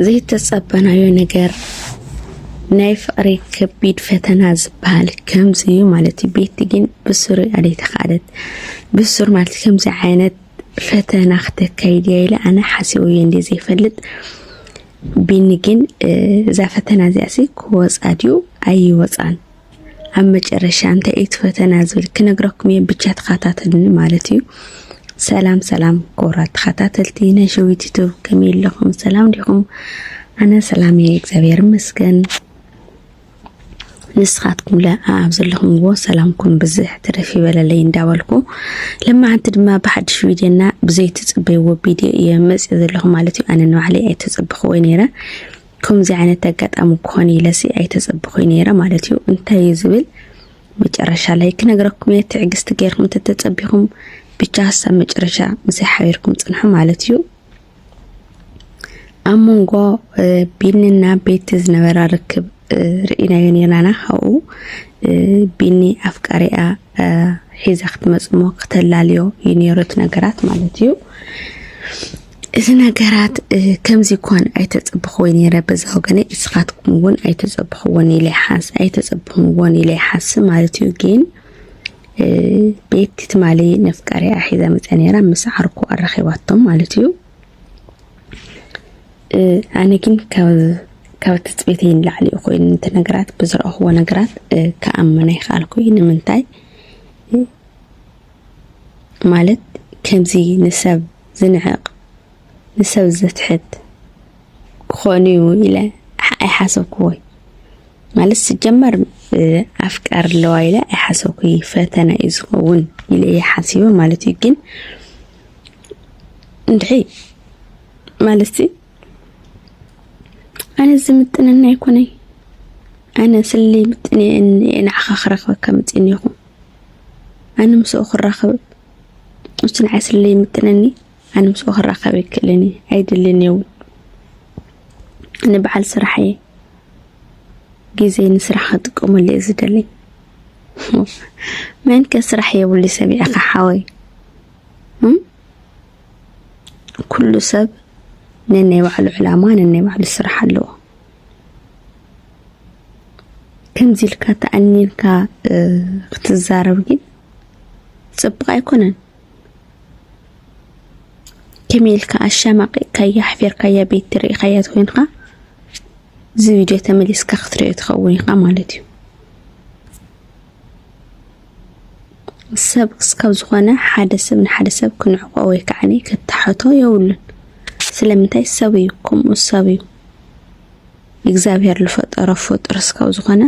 ዘይተጸበናዮ ነገር ናይ ፍቅሪ ከቢድ ፈተና ዝበሃል ከምዚ እዩ ማለት እዩ። ቤቲ ግን ብሱር ኣደይተካለት ብሱር ማለት ከምዚ ዓይነት ፈተና ክተካይድ እያ ኢለ ኣነ ሓሲቡ እየ እንደ ዘይፈልጥ ቢኒ ግን እዛ ፈተና እዚኣ ሲ ክወፃ ድዩ ኣይወፃን ኣብ መጨረሻ እንታይ እዩ እቲ ፈተና ዝብል ክነግረኩም እየ ብቻ ተኸታተልኒ ማለት እዩ ሰላም ሰላም ክቡራት ተኸታተልቲ ናይ ሸዊት ዩቱብ ከመይ ኣለኹም ሰላም ዲኹም ኣነ ሰላም እየ እግዚኣብሔር ይመስገን ንስኻትኩም ለ ኣብ ዘለኹምዎ ሰላምኩም ብዝሕ ትረፍ ይበለለይ እንዳበልኩ ለማዓንቲ ድማ ብሓድሽ ቪድዮና ብዘይትፅበይዎ ቪድዮ እየ መፅእ ዘለኹ ማለት እዩ ኣነ ንባዕለይ ኣይተፀበኽዎ ነይረ ከምዚ ዓይነት ኣጋጣሚ ክኾን ኢለሲ ኣይተጸብኹይ ነይረ ማለት እዩ። እንታይ እዩ ዝብል መጨረሻ ላይ ክነግረኩም እየ። ትዕግስቲ ገይርኩም እንተተጸቢኹም ብቻ ሀሳብ መጨረሻ ምስይ ሓቢርኩም ጽንሑ ማለት እዩ። ኣብ መንጎ ቢኒና ቤቲ ዝነበራ ርክብ ርኢናዮ ነርናና ካብኡ ቢኒ ኣፍቃሪኣ ሒዛ ክትመፅሞ ክተላልዮ እዩ ነይሩ እቲ ነገራት ማለት እዩ እዚ ነገራት ከምዚ ኳን ኣይተጸብኽዎይ ነይረ በዛ ወገነይ እስኻትኩም እውን ኣይተጸብኽዎን ኢለ ሓስ ኣይተጸብኽምዎን ኢለ ሓስ ማለት እዩ ግን ቤት ትማሊ ነፍቃሪ ኣሒዛ መጸ ነይራ ምስ ዓርኩ ኣራኺባቶም ማለት እዩ ኣነ ግን ካብ ትፅቢተይ ንላዕሊ እዩ ኮይኑ ነቲ ነገራት ብዝረእኽዎ ነገራት ክኣምና ይኽኣልኩ እዩ ንምንታይ ማለት ከምዚ ንሰብ ዝንዕቕ ንሰብ ዘትሕት ክኾን እዩ ኢለ ኣይሓሰብኩዎይ ማለት ስጀመር ኣፍቃር ኣለዋ ኢለ ኣይሓሰብኩይ ፈተና እዩ ዝኸውን ኢለ እየ ሓሲበ ማለት እዩ ግን እንድሕይ ማለት ኣነ ዝምጥነኒ ኣይኮነይ ኣነ ስሊ ምጥን ንዓኻ ክረኽበካ ምፅን ይኹ ኣነ ምስኡ ክራኸብ እሱ ንዓይ ስሊ ምጥነኒ ኣነ ምስኡ ክራኸብ ይክእልን እዩ ኣይድልን የውን ኣነ በዓል ስራሕ እየ ግዜ ንስራሕ ክጥቀመሉ እየ ዝደሊ መን ከ ስራሕ የብሉ ሰሚዕኻ ሓወይ ኩሉ ሰብ ነናይ ባዕሉ ዕላማ ነናይ ባዕሉ ስራሕ ኣለዎ ከምዚ ኢልካ ተኣኒንካ ክትዛረብ ግን ፅቡቅ ኣይኮነን ከመይ ኢልካ ኣሻማቂቕካያ ኣሕፊርካያ ቤት ትርኢኻያ ኮይንካ እዚ ቪድዮ ተመሊስካ ክትሪኦ ትኸውን ኢኻ ማለት እዩ ሰብ ክስካብ ዝኾነ ሓደ ሰብ ንሓደ ሰብ ክንዕቆ ወይ ከዓ ክታሐቶ የብሉን። ስለምንታይ ሰብ እዩ ከምኡ ሰብ እዩ እግዚኣብሔር ዝፈጠሮ ፍጡር እስካብ ዝኾነ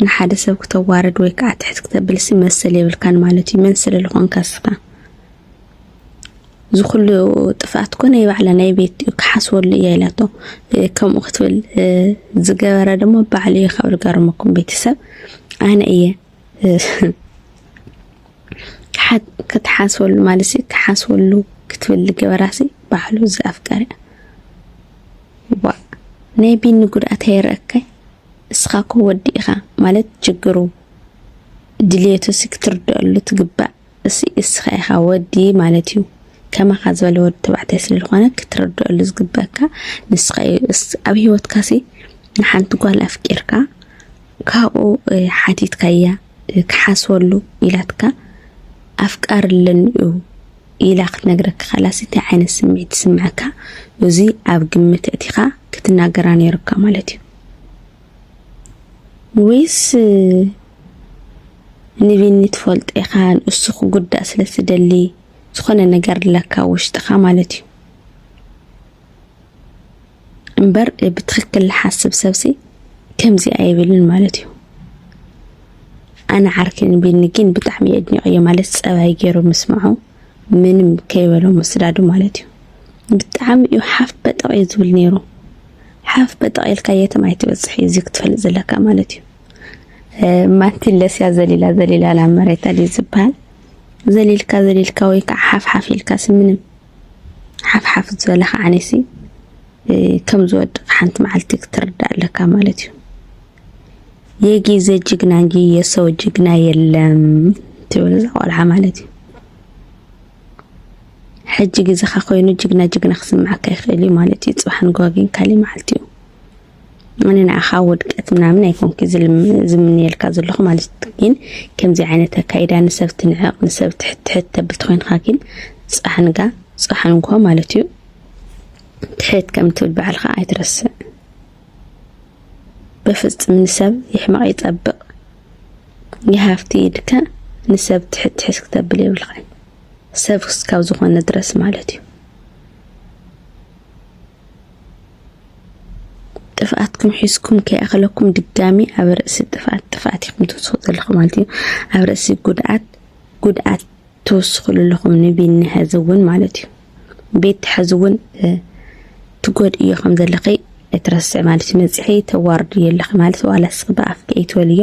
ንሓደ ሰብ ክተዋርድ ወይ ከዓ ትሕት ክተብልሲ መሰል የብልካን ማለት እዩ። መን ስለ ዝኾንካ ስኻ እዚ ኩሉ ጥፍኣት እኮ ናይ ባዕላ ናይ ቤት እዩ ክሓስበሉ እየ ኢላቶ ከምኡ ክትብል ዝገበረ ድማ ባዕሉ እዩ ካብ ዝገርመኩም ቤተሰብ ኣነ እየ ክትሓስበሉ ማለት ሲ ክሓስበሉ ክትብል ዝገበራ ሲ ባዕሉ እዚ ኣፍቀሪ ዋ ናይ ቢኒ ጉድኣት ኣይረእካይ እስኻ እኮ ወዲ ኢኻ ማለት ችግሩ ድልየቱ ሲ ክትርድአሉ ትግባእ እሱይ እስኻ ኢኻ ወዲ ማለት እዩ ከማኻ ዝበለ ወዲ ተባዕታይ ስለ ዝኾነ ክትርድኣሉ ዝግበካ ንስኻ እዩ ኣብ ሂወትካ ሲ ንሓንቲ ጓል ኣፍቂርካ ካብኡ ሓቲትካያ ክሓስወሉ ኢላትካ ኣፍቃር ኣለኒ እዩ ኢላ ክትነግረካ ከላሲ እንታይ ዓይነት ስምዒት ይስምዐካ? እዚ ኣብ ግምት እቲኻ ክትናገራ ነይሩካ ማለት እዩ። ወይስ ንቢኒ ትፈልጦ ኢኻ ንእሱ ክጉዳእ ስለ ትደሊ ዝኾነ ነገር ኣለካ ውሽጥኻ ማለት እዩ እምበር ብትክክል ዝሓስብ ሰብሲ ከምዚ ኣይብልን ማለት እዩ ኣነ ዓርኪ ንቢኒ ግን ብጣዕሚ የድኒቀዮ ማለት ፀባይ ገይሩ ምስምዖ ምንም ከይበሎ ምስዳዱ ማለት እዩ ብጣዕሚ እዩ ሓፍ በጠቕ እዩ ዝብል ነይሩ ሓፍ በጠቕ ኢልካ የትም ኣይትበጽሕ እዩ እዚ ክትፈልጥ ዘለካ ማለት እዩ ማቲለስያ ዘሊላ ዘሊላ ናብ መሬት ኣድዩ ዝበሃል ዘሊልካ ዘሊልካ ወይ ከዓ ሓፍሓፍ ኢልካ ስምንም ሓፍሓፍ ዝበለካ ዓኔሲ ከም ዝወድቕ ሓንቲ መዓልቲ ክትርዳእ ኣለካ ማለት እዩ የጊዘ ጅግና እንጂ የሰው ጅግና የለም ትብል እዛ ቆልዓ ማለት እዩ ሕጂ ግዜኻ ኮይኑ ጅግና ጅግና ክስምዓካ ይኽእል እዩ ማለት እዩ ጽባሕ ንግሆ ግን ካልእ መዓልቲ እዩ ኣነ ንዓኻ ውድቀት ምናምን ኣይኮንኩ ዝምንየልካ ዘለኹ ማለት ግን ከምዚ ዓይነት ኣካይዳ ንሰብ ትንዕቕ ንሰብ ትሕትሕት ተብል ተኮይንካ ግን ፃሕንጋ ፃሕንጎ ማለት እዩ ትሕት ከም ትብል በዓልካ ኣይትረስዕ በፍፅም ንሰብ ይሕመቕ ይፀብቕ ይሃፍቲ ኢልካ ንሰብ ትሕትሕስ ክተብል የብልካ ሰብ እስካብ ዝኾነ ድረስ ማለት እዩ ጥፍኣትኩም ሒዝኩም ከይኣኸለኩም ድጋሚ ኣብ ርእሲ ጥፍኣት ጥፍኣት ኢኹም ትውስኹ ዘለኹም ማለት እዩ ኣብ ርእሲ ጉድኣት ጉድኣት ትውስኹሉ ኣለኹም ንቢኒ ሕዚ እውን ማለት እዩ ቤት ሕዚ እውን ትጎድእዮ ከም ዘለኺ እትረስዕ ማለት እዩ መፅሒ ተዋርድዮ ኣለኺ ማለት ዋላ ስኺ ብኣፍኪ ኣይትበልዮ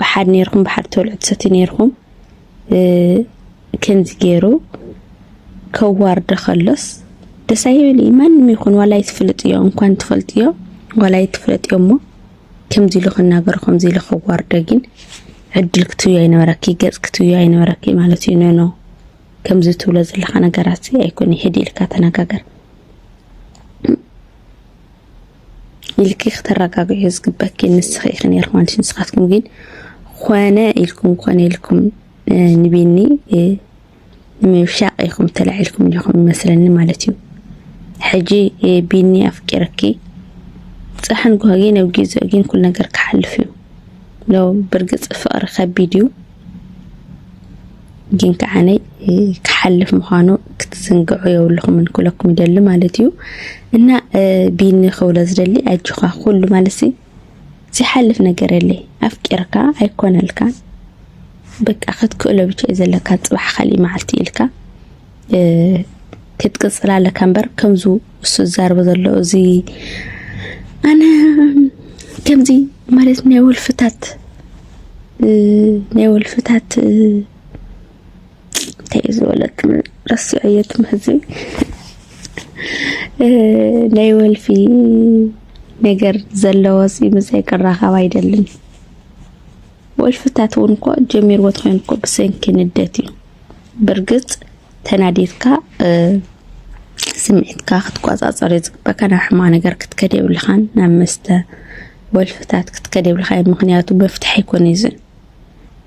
ብሓድ ነይርኩም ብሓድ ተብልዑ ትሰትዩ ነይርኩም ከምዚ ገይሩ ከዋርደ ከሎስ ደስ ኣይብል ማንም ይኹን ዋላ ይትፍልጥዮ እንኳን ትፈልጥዮ ዋላ ይትፍለጥዮ እሞ ከምዚ ኢሉ ክናገሮ ከምዚ ኢሉ ከዋርደ ግን ዕድል ክትብዮ ኣይነበረኪ ገጽ ክትብዮ ኣይነበረኪ ማለት እዩ ነኖ ከምዚ ትብሎ ዘለካ ነገራት ኣይኮነ ሕዲ ኢልካ ተነጋገር ኢልኪ ክተረጋግዕዮ ዝግበኪ ንስኺ ኢኺ ነይርኩም ኣንቺ ንስኻትኩም ግን ኮነ ኢልኩም ኮነ ኢልኩም ንቢኒ ንምብሻቕ ኢኹም ተላዒልኩም ኢኹም ይመስለኒ ማለት እዩ ሕጂ ቢኒ ኣፍቂረኪ ፃሕን ጓጊ ነብጊ ዘጊን ኩል ነገር ክሓልፍ እዩ ለው ብርግፅ ፍቕሪ ከቢድ እዩ ግን ከዓነይ ክሓልፍ ምዃኑ ክትዝንግዑ የብልኹምን ክብለኩም ይደሊ ማለት እዩ እና ቢኒ ክብሎ ዝደሊ ኣጆኻ ኩሉ ማለት ዝሓልፍ ነገር የለይ ኣፍቂርካ ኣይኮነልካ በቃ ክትክእሎ ብቻ እዩ ዘለካ ፅባሕ ካሊእ መዓልቲ ኢልካ ክትቅፅል ኣለካ እምበር ከምዚ እሱ ዝዛርቦ ዘሎ እዚ ኣነ ከምዚ ማለት ናይ ወልፍታት ናይ ወልፍታት እንታይ እዩ ዝበለት ረሲዖ እየ ትምህዚ ናይ ወልፊ ነገር ዘለዎ ምሳይ ክራኸብ ኣይደልን ወልፍታት እውን እኮ ጀሚርዎ ትኮይኑ እኮ ብሰንኪ ንደት እዩ ብርግጽ ተናዲድካ ስምዒትካ ክትቆጻጸር እዩ ዝግበካ ናብ ሕማቅ ነገር ክትከድ የብልኻን ናብ መስተ ወልፍታት ክትከድ የብልካ እዩ ምክንያቱ መፍትሒ ኣይኮነ እዚ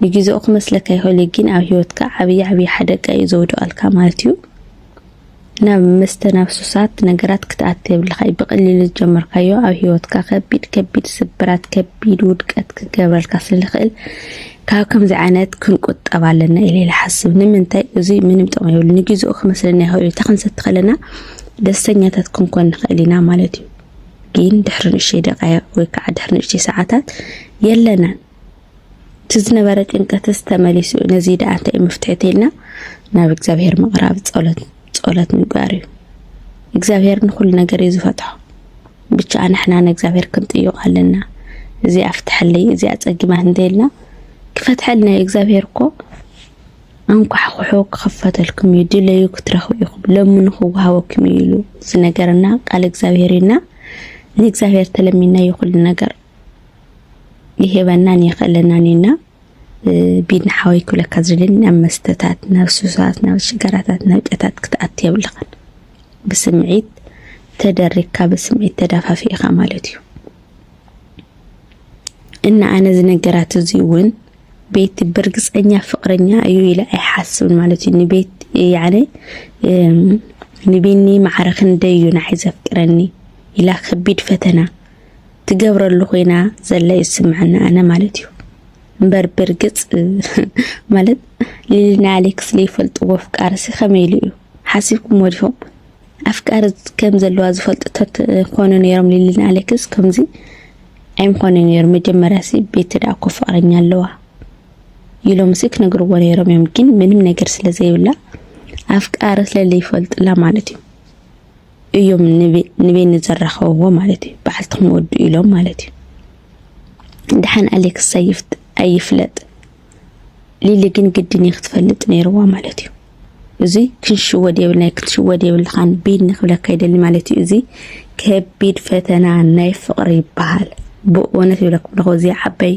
ንግዜኡ ክመስለካ ይኽእል እዩ ግን ኣብ ሂወትካ ዓብዪ ዓብዪ ሓደጋ እዩ ዘውድቀልካ ማለት እዩ ናብ መስተ ናብ ሱሳት ነገራት ክትኣቲ የብልካ እዩ ብቀሊሉ ዝጀመርካዮ ኣብ ሂወትካ ከቢድ ከቢድ ስብራት ከቢድ ውድቀት ክገብረልካ ስለልክእል ካብ ከምዚ ዓይነት ክንቁጠብ ኣለና ኢለ ይሓስብ ንምንታይ እዙይ ምንም ጥቅሚ የብሉ ንግዜኡ ክመስለና ይኽእል እዩ ተክንሰቲ ከለና ደስተኛታት ክንኮን ንኽእል ኢና ማለት እዩ ግን ድሕሪ ንእሽተይ ደቃይቅ ወይ ከዓ ድሕሪ ንእሽተይ ሰዓታት የለናን እቲ ዝነበረ ጭንቀትስ ተመሊሱ ነዚ ደኣ እንታይ መፍትሒ ተይልና ናብ እግዚኣብሔር ምቕራብ ጸሎት ጸሎት ምግባር እዩ እግዚኣብሔር ንኹሉ ነገር እዩ ዝፈትሖ ብቻ ንሕና ንእግዚኣብሔር ክንጥይቕ ኣለና እዚ ኣፍትሐለይ እዚ ኣጸጊማት እንተይልና ክፈትሐልና እዩ እግዚኣብሔር እኮ ኣንኳሕኩሑ ክኽፈተልኩም እዩ ድለዩ ክትረኽቡ ኢኹም ለምኑ ክወሃበኩም እዩ ኢሉ ዝነገረና ቃል እግዚኣብሔር እዩና ንእግዚኣብሔር ተለሚናዮ ኩሉ ነገር ይህበናን የኸለናን እዩ እና ቢድን ሓወይ ክብለካ ዝደሊ ናብ መስተታት ናብ ሱሳት ናብ ሽጋራታት ናብ ጨታት ክትኣት የብልኻን ብስምዒት ተደሪግካ ብስምዒት ተዳፋፊእኻ ማለት እዩ እና ኣነ ዝነገራት እዚ እውን ቤቲ ብርግፀኛ ፍቅረኛ እዩ ኢለ ኣይሓስብን ማለት እዩ ንቤት ያነ ንቢኒ ማዕረ ክንደይ እዩ ንዓይ ዘፍቅረኒ ኢላ ከቢድ ፈተና ትገብረሉ ኮይና ዘለ ይስምዐኒ ኣነ ማለት እዩ እምበር ብርግፅ ማለት ሊሊና ኣሌክስ ዘይፈልጥዎ ኣፍቃርሲ ከመይ ኢሉ እዩ ሓሲብኩም ወዲኹም ኣፍቃሪ ከም ዘለዋ ዝፈልጡ ተኮኑ ነይሮም ሊሊና ኣሌክስ ከምዚ ኣይምኾነ ነይሩ መጀመርያ ሲ ቤት ዳ እኮ ፍቅረኛ ኣለዋ ኢሎም ሲ ክነግርዎ ነይሮም እዮም ግን ምንም ነገር ስለዘይብላ ኣፍቃሪ ስለዘይፈልጥላ ማለት እዩ እዮም ንቤኒ ዘራኸብዎ ማለት እዩ። በዓልትኹም ወዱ ኢሎም ማለት እዩ። ድሓን ኣሌክስ ኣይፍለጥ ሊሊ ግን ግድን እዩ ክትፈልጥ ነይርዋ ማለት እዩ። እዚ ክንሽወድ የብልናይ ክትሽወድ የብልኻን ቤኒ ክብለካ ይደሊ ማለት እዩ። እዚ ከቢድ ፈተና ናይ ፍቕሪ ይበሃል። ብእውነት ይብለኩም ኣለኹ እዚ ዓባይ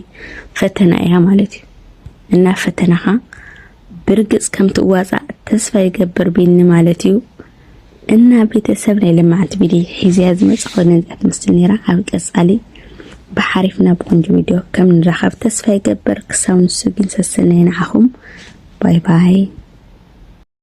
ፈተና እያ ማለት እዩ እና ፈተናኻ ብርግፅ ከምትዋፃእ ተስፋ ይገብር ቤኒ ማለት እዩ። እና ቤተሰብ ናይ ለማዓንቲ ቢዲ ሒዘያ ዝመፃኹ ነዚኣ ትመስል ነይራ ኣብ ቀፃሊ ብሓሪፍ ናብ ቆንጆ ቪድዮ ከም ንራኸብ ተስፋ ይገበር ክሳብ ንሱ ግን ሰሰናይ ንዓኹም ባይ ባይ